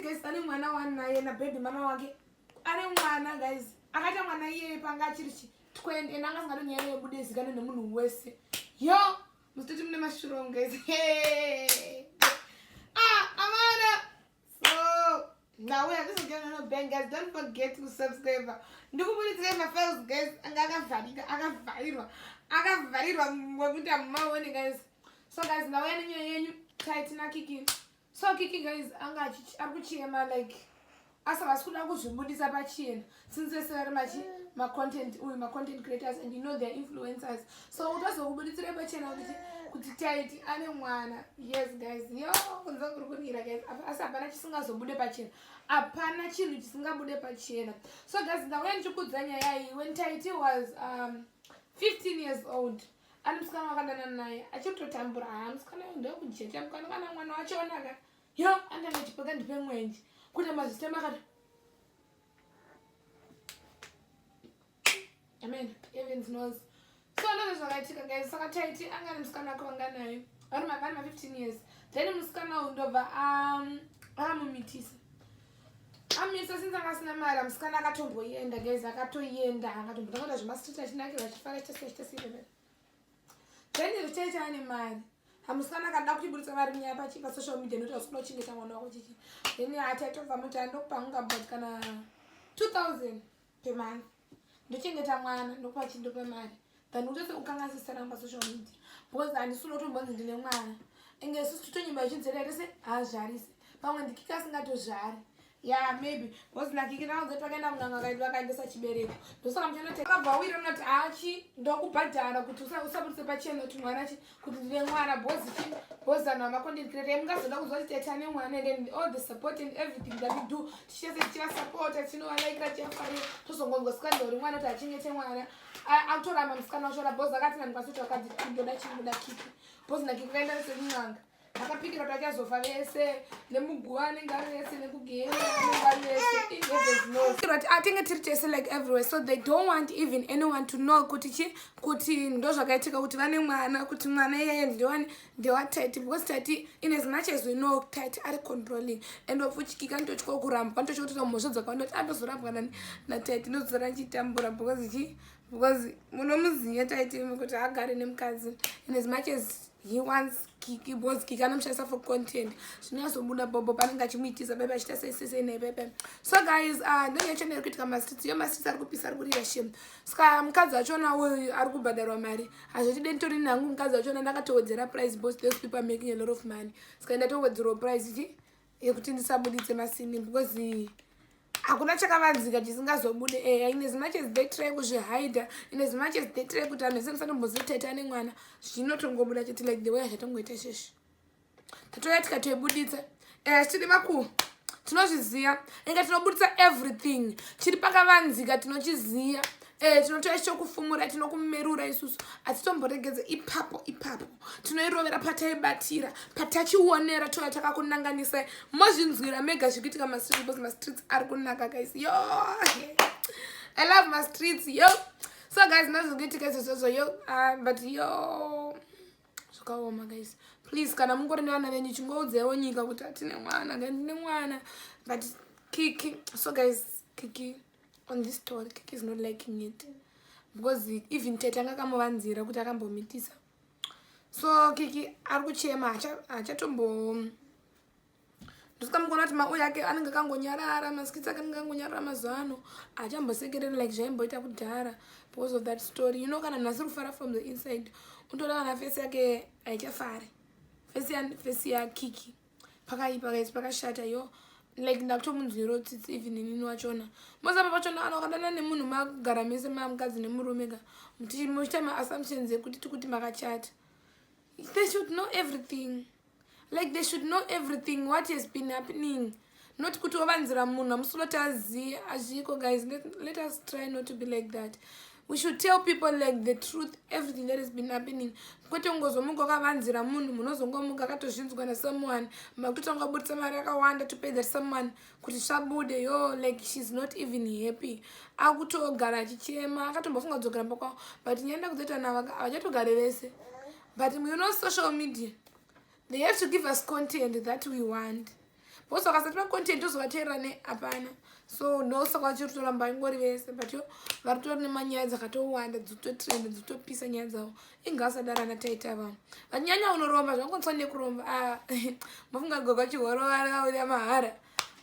guys ane mwana wani naye na baby mama wake ane mwana guys akaita mwana iyeye panga achiri chi 20 and anga asingado nyaya yebude zikane nemunhu wese yo muzitoti mune mashurong guys ah amana so now we are just going to bank guys don't forget to subscribe ndikubuditsirai mafiles guys anga akavharika akavharirwa akavharirwa wekuita mumaone guys so guys ndauya nenyaya yenyu taitina kiki so kiki guys anga ari kuchema like asi vasi kuda kuzvibudisa pachena since vese vari machi macontent uyu macontent creators and you know their influencers so utozokubuditsira pachena kuti kuti taiti ane mwana yes guys yo kunza kuri kunira guys asi hapana chisingazobude pachena hapana chinhu chisingabude pachena so guys ndauya ndichikudza nyaya iyi when taiti was um, 15 years old Ani musikana wakadana naye achitotambura haa ah, musikana uyu ndewekujecha mukana kana mwana wacho onaka yo andanga chipeka ndipe mwenje kuita mazisitema akati amen evens knows so ndozvo zvakaitika guys saka taiti angani musikana wake wanganayo vari mangani ma 15 years then musikana uyu ndobva um, akamumitisa amisa since anga asina mari amusikana akatomboyenda guys akatoyenda akatombotakata zvemastreet achinakira achifara chese chese iveve then richee chaane mari amusikana akada kuchiburitsa mari nyaya pachi pasocial media notaura sikuda kuchengeta mwana wako chichi then ataitobva muti andokupa hunga but kana 2000 pemonth ndochengeta mwana ndokupa chinto pemari than utose kukanga sisaramba social media because handisi unotombonzi ndine mwana inge isu titonyimba ichidzera tese haazvarise pamwe ndikika asingatozvari ya maybe because nakiki naoze takaenda kunanga kaidi vakaendesa chibereko ndosaka muchanoti akabva awira unoti achi ndokubhadhara kuti usabudise pachena kuti mwana chi kuti ndine mwana bozi chii bozi vanhu vamakondikreta mungazoda kuzwa kuti tete ane mwana here and all the support and everything that we do tichese tichivasapota tinovalaikira tichivafarira tozongonzwa sikana ndauri mwana kuti achengete mwana akutoramba musikana wachora bozi akati nani kwasiti wakadzi ndoda chii ndoda kiki bozi nakiki kaenda nesekun'anga vakapindira kuti vachazofa vese nemuguva anenge ari vese nekugehena anenge ari vese inhevezinoti atenge tiri tese like everywhere so they don't want even anyone to know kuti chi kuti ndo zvakaitika kuti vane mwana kuti mwana iyeye ndewani ndewatati because tati in as much as we know tati ari controlling and wafuchikika ndotyoa kurambwa ndotyoa kutoita mhosva dzakawanda kuti andozorambwa nani natati ndozora chitambura because chi because munomuziva taiti kuti agare nemukadzi in as much as he wants kiki bos kiki anomushandisa for content zvinoyazobuda bobo panenge achimuitisa bebe achiita seisese nei bebe so guys ah, ndonye chonero kuitika mastreets yo mastreets ari kupisa ari kurira shem ska mukadzi wachona uyu ari kubhadharwa mari hazvotide nditori nangu mukadzi wachona ndakatowedzera price bos those people are making a lot of money ska ndatowedzerwa price chi yekuti ndisabuditse masini because hakuna chakavanzika chisingazobude eya eh, in as much as they try kuzvihider in as much as they try kuti anhu ese musatombozoteta nemwana zvinotongobuda chete like the way azvatongoita sheshe tatouya tikatoibuditsa eya eh, tiri makuhu tinozviziva inga tinobudisa everything chiri pakavanzika tinochiziva Eh, tinotora chokufumura tinokumerura isusu asi tomboregedza ipapo ipapo tinoirovera pataibatira patachionera tova takakunanganisai mozvinzwira mega zviri kuitika mastreet because mastreets ari kunaka guys yo i love mastreets yo so guys ndazviri kuitika izvozvozvo yo ah, but yo zvakaoma guys please kana mungori nevana venyu chingoudzaiwo nyika kuti hatine mwana ndine mwana but kiki so guys kiki on this story kiki is not liking it because even tete anga akamuvanzira kuti akambomitisa so kiki ari kuchema hachatombo ndosikamukona kuti mau yake anenge akangonyarara maskits ake anenge akangonyarara mazuva ano haachambosekereri like zvaimboita kudhara because of that story you know kana munhu asiri kufara from the inside unotoda kana fesi yake haichafari fesi yakiki ya pakaipa guys pakashata yo like ndakutomunzwiro tsitsi even inini wachona mozamba pachona anokanana nemunhu makugara mese mamukadzi nemurume ka muchiita maassumptions ekuti tikuti makachata they should know everything like they should know everything what has been happening not kuti ovanzira munhu amusuloti aziye azviko guys let, let us try not to be like that we should tell people like the truth everything that has been happening kwete ungozomuka wakavanzira munhu munozongomuka akatozvinzwa nasomeone makutotanga kubudisa mari akawanda to pay that someone kuti svabude yo like sheis not even happy akutogara achichema akatombofunga kudzokera mbakwa but nyaya ndakuzoita navo havachatogare vese but you know social media they have to give us content that we want because vakasati vacontent tozovateerera ne hapana so ndosaka vachiri kutoramba ingori vese but yo vari kutori nemanyaya dzakatowanda dzitotrend dzitopisa nyaya dzavo ingasadaro ana taita vanhu vanyanya unoromba zvakonisa nekuromba ah, mafunga goga chihorovarauya mahara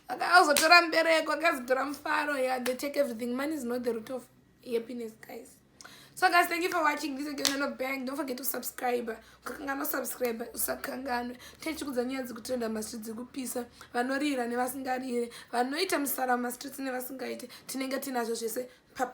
akazotora mbereko akazotora mufaro ya they take everything money is not the root of happiness guys so guys thank you for watching this again no bang don't forget to subscribe ukakanganwa subscribe usakanganwe tichikudza nyaya dzekutrenda mastreet dzekupisa vanorira nevasingarire vanoita musara mumastreets nevasingaite tinenge tinazvo zvese papa